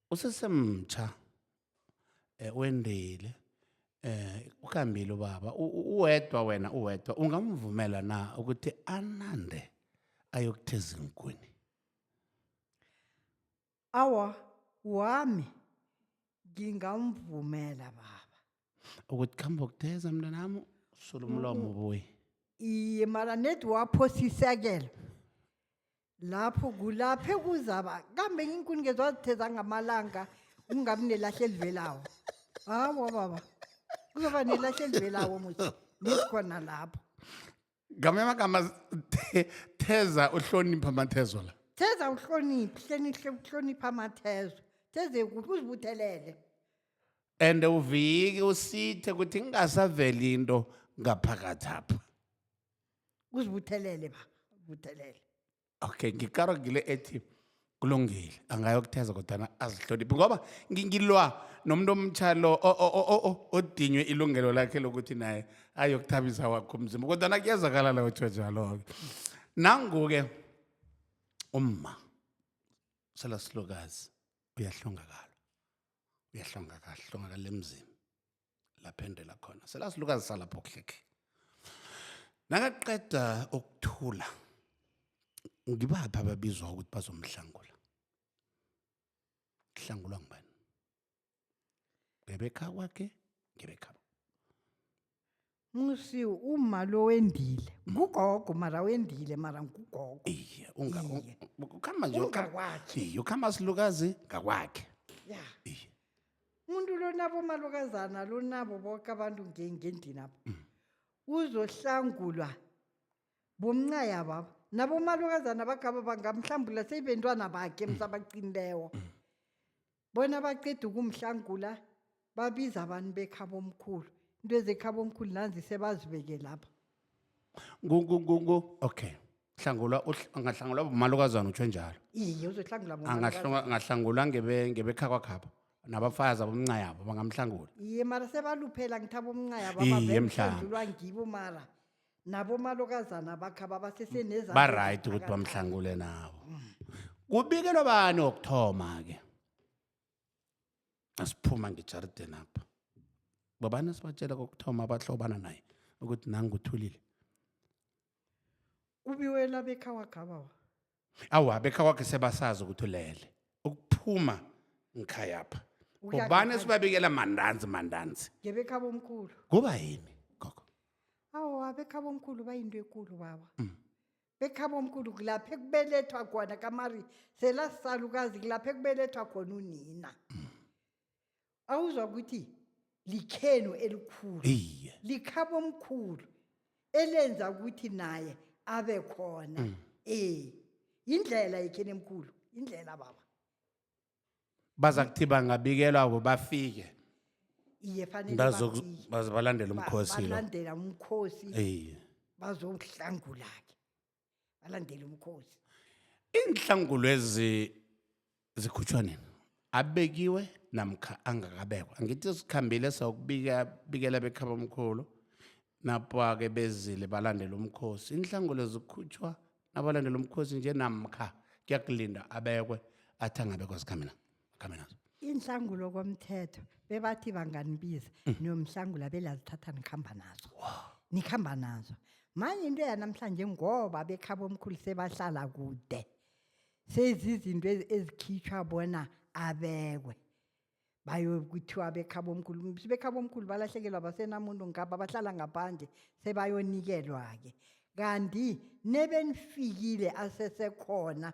usesemtsha eh, wendile eh ukhambile ubaba U- u- uwedwa wena uwedwa ungamvumela na ukuthi anande ayokutheza inkuni awa wami ngingamvumela baba ukuthi khamba ukutheza mntanami sula umlomo ubuye iye mara nedi waphosisekelo lapho kulaphe kuzaba kambe iinkuni ngezwazitheza ngamalanga kungabi nelahle elivelawo hawa baba kuzoba nelahle elivelawo muthi nesikhona lapho ngamanye amagama the- theza uhlonipha amathezo la theza uhloniphi hlenihle uhlonipha amathezo theze kuphi uzibuthelele and uvike usithe ukuthi ingasaveli into ngaphakathi apha uzibuthelele ba buthelele okay ngikaro ngile ethi kulungile angayokutheza kodwana azihloniphi ngoba ngi- ngilwa nomuntu omtsha lo o- o- o- o- o- odinywe ilungelo lakhe lokuthi naye ayokuthabisa wakho umzimba kodwana kuyezakala la kuthiwa njalo-ke nangu-ke umma selasilokazi uyahlongakala uyahlongakala hlongakala emzini laphendela khona selasilukazi salapho khekhe nakaqeda ukuthula ngibaphi ababizwa ukuthi bazomhlangula kuhlangulwa ngibani ngebekhawakhe ngebekhabo musi umma lo wendile ngugogo mara wendile mara ngugogo iye unga- un- Iye. ukhamba nje ukha- Ungakwakhe. iye ukhamba silukazi ngakwakhe ya iye umuntu lonabo malokazana lonabo boke abantu nge- ngendinabo uzohlangulwa bomncaya babo nabo malokazana bagaba bangamhlambula seyibentwana bakhe msabaqinilewo bona baqeda ukumhlangula babiza abantu bekhabo omkhulu into ezekhabo omkhulu nanzi sebazibeke lapha ngu ngu ngu ngu okay hlangulwa uhl- angahlangulwa bomalukazana utsho njalo iye uzohlangula bona Angahlunga- angahlangulwa ngebe- ngebekha kwakhapha nabafazi abomnca yabo bangamhlangula iye mara sebaluphela ngithaba umncaya Iye, mhlanga. bababandulwa ngibo mara nabomalokazana bakhe ababasese nezandla baright ukuthi eziphakathi. bamhlangule nabo kubikelwa bani wokuthoma-ke asiphuma ngejarideni apha babani sibatshela kokuthoma abahlobana naye ukuthi nanguthulile kubiwela bekhawakhaba wa awa bekhakwakhe sebasazi ukuthi ulele ukuphuma ngikhayapha Uya ubani ngekhaya. esibabikela mandanzi mandanzi ngebekhaba omkhulu kuba yini gogo awa bekhaba omkhulu bayinto ekulu baba bekhaba omkhulu kulapho ekubelethwa khona kamari selasalukazi kulapho ekubelethwa khona unina awuzwa ukuthi likhenu elikhulu iye likhabo omkhulu elenza ukuthi naye abe khona Mm. eh indlela yekheni emkhulu indlela baba baza kuthi bangabikelwa bo bafike iye fanele Ndazo- bafike. baze balandele Ba- umkhosi lo balandela umkhosi iye bazohlangulake balandele umkhosi iinhlangulwezi zikhutshwa nini abekiwe namkha angakabekwa angithi sikhambile sawukubika bikela bekhaba omkhulu napake bezile balandela umkhosi inhlangulwezi zikhutshwa nabalandela umkhosi nje namkha kuyakulinda abekwe athi angabekwa zikhamina akhambe nazo inhlangulo komthetho bebathi banganibiza Mm. niyomhlangula belazithatha nikhamba nazo nikhamba nazo manje into yanamhlanje ngoba bekhabo omkhulu sebahlala kude sezizinto ezi- ezikhitshwa bona abekwe bayokuthiwa bekhabo omkhulu bekhabo omkhulu balahlekelwa basenamuntu ngapha bahlala ngaphandle sebayonikelwa-ke kanti nebenifikile asesekhona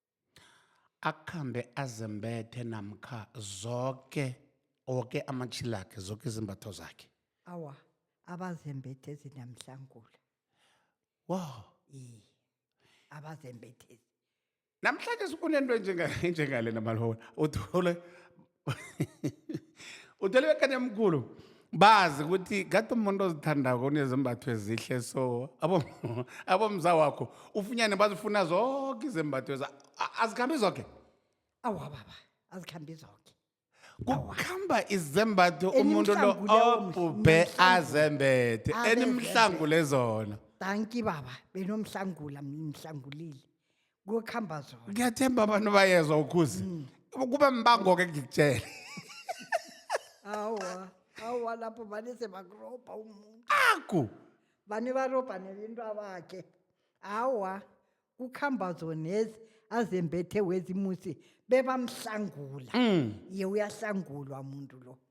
akhambe azembethe namkha zoke woke amatshilakhe zoke izimbatho zakhe awa abazembethe zinamhlangula wow iye abazembethezi namhlanje sikunento enjenga- enjengale namalobola uthole uthole bekani emkhulu bazi ukuthi kade umuntu ozithandako unezembatho ezihle so abo- abomza wakho ufunyane bazifuna zonke izembatho eza- a- azikhambi zoke awa baba azikhambi zoke kukhamba izembatho umuntu lo Enimhlangu leyo mhla- obhubhe enimhlangu. azembethe Abezembethe. enimhlangu lezona danki baba benomhlangula mhlangulile kuyokuhamba zona ngiyathemba abantu bayezwa ukhuzi kuba mbango-ke ngikutshele awa awa lapho vane sebakurobha umuntu aku vane varobha nelinto abakhe awa kukhamba zonezi azembethe wezimusi bebamhlangula ye uyahlangulwa muntu lo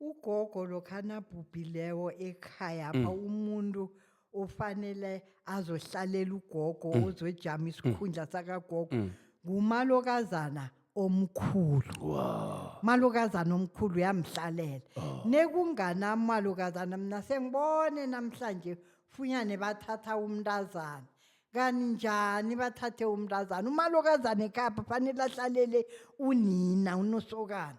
ugogo lokha nabhubhileko ekhaya pha mm. umuntu ofanele azohlalela ugogo mm. ozojama mm. isikhundla sakagogo ngumalokazana omkhulu wow. malokazana omkhulu uyamhlalela oh. nekunganamamalokazana mna sengibone namhlanje funyane bathatha umntazana kanti njani bathathe umntazana umalokazana ekhapha fanele ahlalele unina unosokana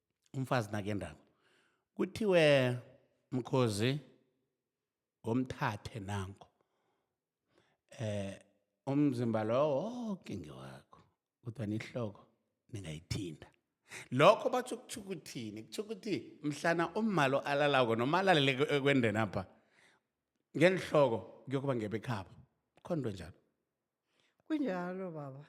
umfazi nakendako kuthiwe mkhozi ngomthathe nango eh umzimba lowo woke ngewakho kodwa nihloko ningayithinta lokho batsho kutho ukuthini kutho ukuthi mhlana ummalo alalako noma alalele ekwendeni apha ngenhloko kuyokuba ngebekhabo khona into enjalo kunjalo baba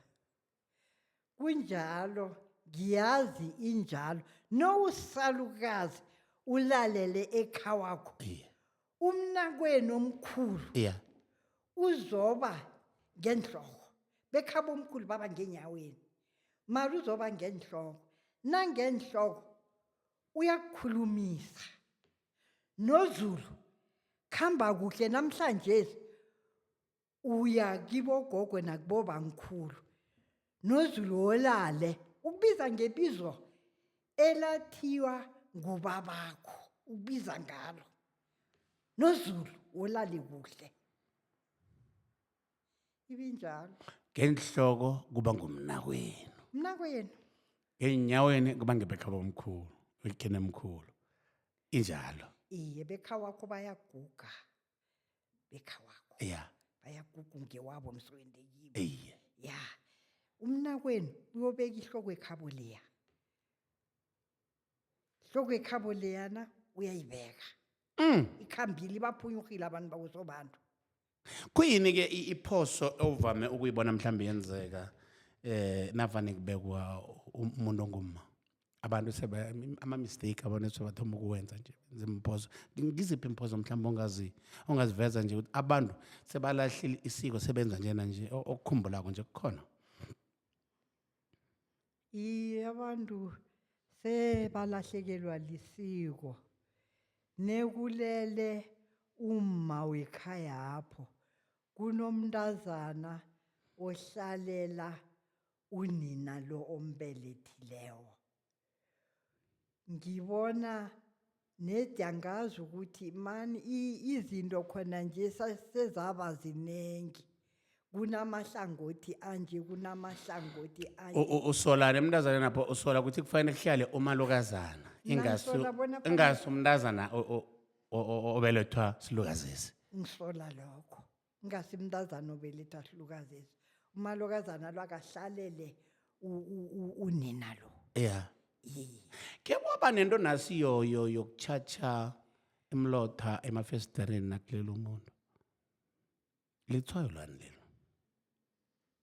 kunjalo ngiyazi injalo nowusalukazi ulalele ekhawakho iye umnakwenu omkhulu iye uzoba ngenhloko bekhaba omkhulu baba ngenyaweni mara uzoba ngenhloko nangenhloko uyakukhulumisa nozulu khamba kuhle namhlanje uya kibogogwe nakubobamkhulu nozulu wolale ukubiza ngebizo elathiwa ngubabakho ukubiza ngalo nozulu wolale kuhle ibinjalo ngenhloko kuba ngumnakwenu mnakwenu enyaweni kuba ngebekhaba omkhulu ulikhene mkhulu injalo iye bekha wakho bayaguga bekhawakho ya bayaguga ungewabo mswendekiwe eye ya umnakwenu uyobeka ihloko ekhabo leya ihloko ekhabo leyana uyayibeka Mm. ikhambile ibaphunyurhile abantu bakusobantu kuyini ke i- iphoso ovame ukuyibona mhlawumbe yenzeka eh navane kubekwa um- umuntu ongumma abantu ama-mistake abantu sebathoma ukuwenza nje zimphozo ngiziphi imphozo mhlawumbe ongazi ongaziveza nje ukuthi abantu sebalahlile isiko sebenza njena nje okukhumbulako nje kukhona iye abantu sebalahlekelwa lisiko nekulele umma wekhayapho kunomntazana ohlalela unina lo ombelethilewo ngibona nedi angazi ukuthi mani izinto khona nje sezaba ziningi kunamahlangothi anje kunamahlangothi anje U- u- usolani emntazana napho usola ukuthi kufanele kuhlale umalukazana ingasi Ngisola bona kufanele- ingasi umntazana o- o- o- o- obelethwa silukazesi ngisola lokho ingasi mntazana obeletha ahlukazezi umalokazana lo akahlalele u- u- u- unina lo ya Iye. ke kwaba nento nasiyo yo- yokutshatsha imlotha emafesitereni nakulelo muntu litshwayo lwani lelo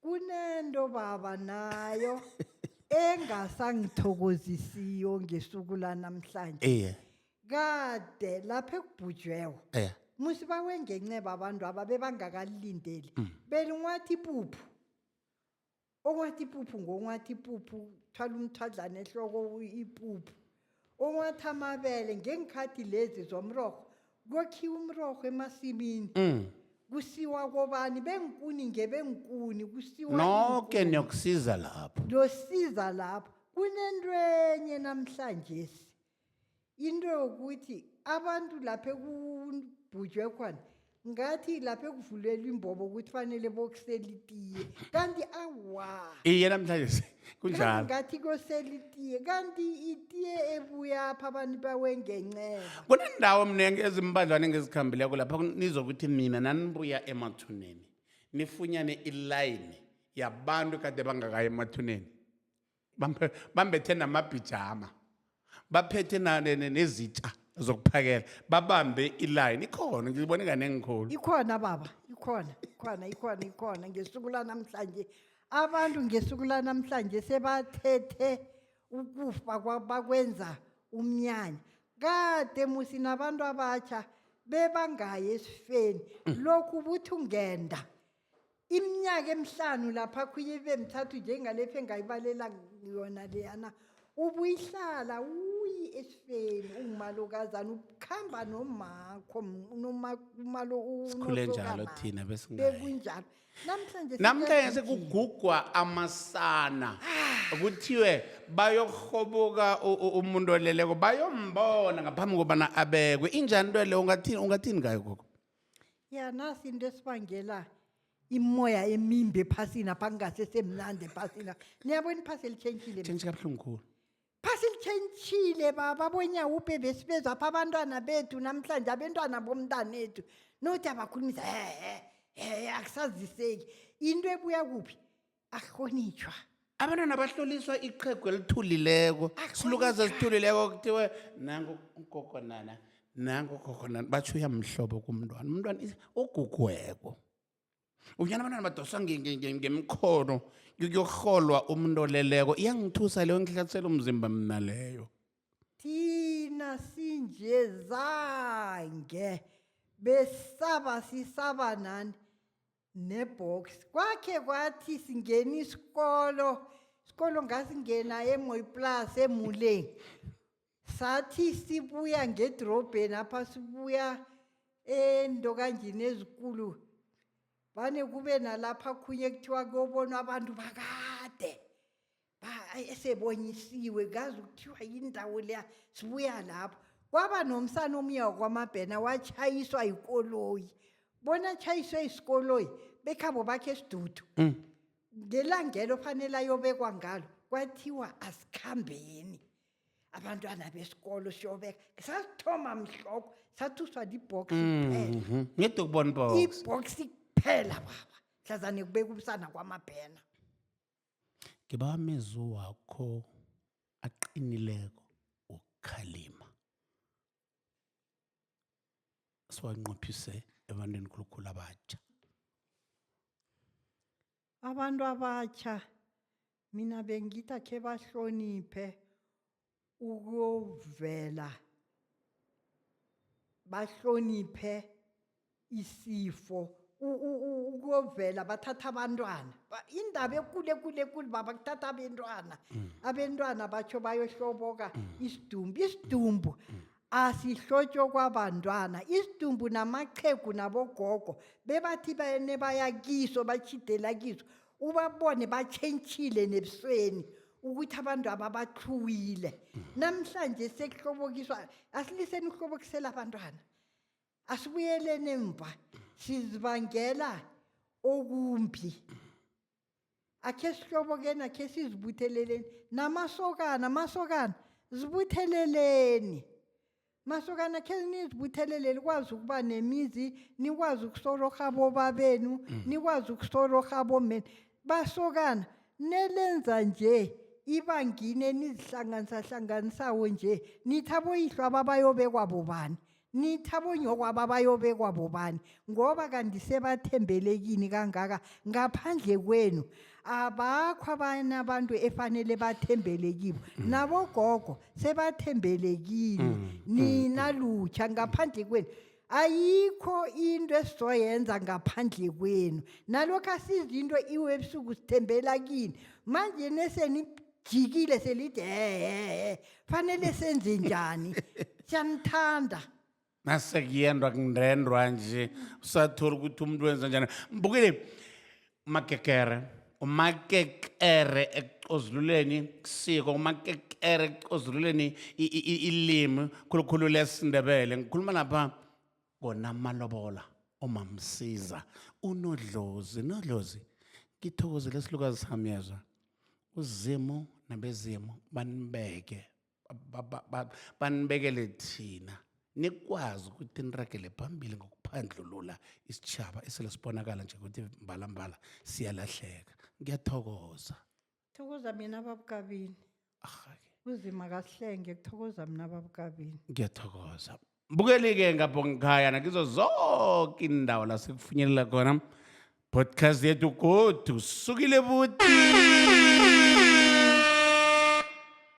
kunento baba nayo engasangithokozisiyo ngesuku lanamhlanje iye kade lapha ekubhujwewo eh musi bawengenceba abantu aba bebangakalindeli belinwathi ipuphu okwathi ipuphu ngokwathi ipuphu thwala umthadlana ehloko u- ipuphu onwathi amabele ngeenkhathi lezi zomrorho kokhiwa umrorho emasimini Mm. kusiwa kobani bengikuni ngebengikuni kusiwa noke iinkuni. niyokusiza lapho losiza lapho kunento enye namhlanje into yokuthi abantu lapha ekubhujwe khona ngathi lapho ekuvulelwa imbobo ukuthi fanele bokusela itiye kanti awa iye namhlanje se- Kanti kunjalo ngathi kosela itiye kanti itiye ebuyapha abantu bawengenceba kunendawo mningi ezimbadlwane engizikhambileko lapha kun- nizokuthi nina nanibuya emathuneni nifunyane ilayini yabantu kade bangakayi emathuneni bambethe namabhijama baphethe nezitsha zokuphakela babambe ilayini ikhona ngizibone kanengikhulu ikhona baba ikhona ikhona ikhona ikhona ngesuku lanamhlanje abantu ngesuku lanamhlanje sebathethe ukufa bakwenza umnyanya kade musi nabantu abatsha bebangayi esifeni mm. lokhu buthi ungenda iminyaka emihlanu lapha khunye ibe mithathu njengalefi engayibalela yona leyana ubuyihlala uyi esifeni ungumalokazana ubukhamba nomakho umalo sikhule njalo thina besingayi bekunjalo namhlanje namhlanje siyakwenza. sekugugwa amasana kuthiwe bayokuhoboka u- u- umuntu oleleko bayombona ngaphambi kobana abekwe injani into leyo ungathini ungathini ngayo gogo yana sinto esibangela imimoya emimbi ephasini apha kungasesemnandi ephasina niyabona iphasi elitshentshile Change kabuhlungu khulu. phasi litshentshile baba bonyawupe besibeza apha abantwana bethu namhlanje abentwana bomntanethu nothi abakhulumisa hehe hehe akusaziseki into ebuya kuphi akuhlonitshwa abantwana bahloliswa iqhegu elithulileko Akhona silukazi njani? esithulileko kuthiwe nangu ugogo nana nangu ugogo nana batsho uyamhlobo kumntwana umntwana is- ugugweko unyana abantwana badoswa nge- nge- nge- ngemkhono yokurholwa umuntu oleleko iyangithusa leyo ngihlatsela umzimba mna leyo thina sinje zange besaba sisaba nani nebox kwakhe kwathi singena isikolo isikolo ngasingena emoy plus emuleng sathi sibuya ngedrobheni apha sibuya endokanjini ezikulu vane kube nalapha khunye kuthiwa kuyobonwa abantu bakade ba- ay, esebonyisiwe kazi kuthiwa yindawo leya sibuya lapho kwaba nomsana omuya wakwamabhena watshayiswa yikoloyi bona atshayiswe isikoloyi bekhabo bakhe esidudu Mm. ngelangelo fanele ayobekwa ngalo kwathiwa asikhambeni abantwana besikolo siyobeka sasithoma mhloko sathuswa libhox kuphela Mhm. ngedokubon box ibhox kuphela baba hlazane kubeka ubusana kwamabhena Ngiba amezwi wakho aqinileko wokukhalima. Siwanqophise ebantwini khulukhulu abatjha. Abantu abatjha mina bengitha khe bahloniphe ukuyovela bahloniphe isifo u- u- u- ukuyovela bathatha abantwana Ba- indaba ekulu ekulu ekulu baba kuthatha abentwana abentwana batsho bayohloboka isidumbu isidumbu asihlotshwe kwabantwana isidumbu namaqhegu nabogogo bebathi bene baya kiso batshidela kiso ubabone batshentshile nebusweni ukuthi abantu ababathluwile namhlanje sekuhlobokiswa asiliseni ukuhlobokisela abantwana asibuyeleni emva sizibangela okumbi akhe sihlobokeni akhe sizibutheleleni namasokana amasokana zibutheleleni masokana khe nizibuthelele likwazi ukuba nemizi nikwazi ukusororha bobabenu Mm. nikwazi ukusororha bomeni basokana nelenza nje ibangini enizihlanganisahlanganisawo nje nithi aboyihlo ababayobekwa bobani nithi abonyoko ababayobekwa bobani ngoba kanti sebathembelekini kangaka ngaphandle kwenu abakho abanye abantu efanele bathembele kibo mm. nabogogo sebathembele kini mm. nina mm. lutsha ngaphandle kwenu ayikho into esizoyenza ngaphandle kwenu nalokho asizi into iwe ebusuku sithembela kini manje nesenijikile selide hehe fanele senze njani siyanithanda nasekuyenrwa kunrendrwa nje usathori ukuthi umuntu wenza njani mbukile umakekere umakekere ekucozululeni kusiko umakekere ekucozululeni i- i- i- ilimi khulukhulu lesindebele ngikhuluma lapha kona amalobola omamsiza unodlozi nodlozi ngithokozele isilukazi sami yezwa uzimu nabezimu banibeke ba- ba- ba- banibekele thina nikwazi ukuthi niragele phambili ngokuphandlulula isitjhaba esele sibonakala nje ukuthi mbalambala siyalahleka ngiyathokoza thokoza mina babukabini arhake uzima kahlenge kuthokoza mina babukabini ngiyathokoza bukelike ngabongikhaya nakizo zonke indawo la sikufinyelela khona podcast yethu godu sukile buti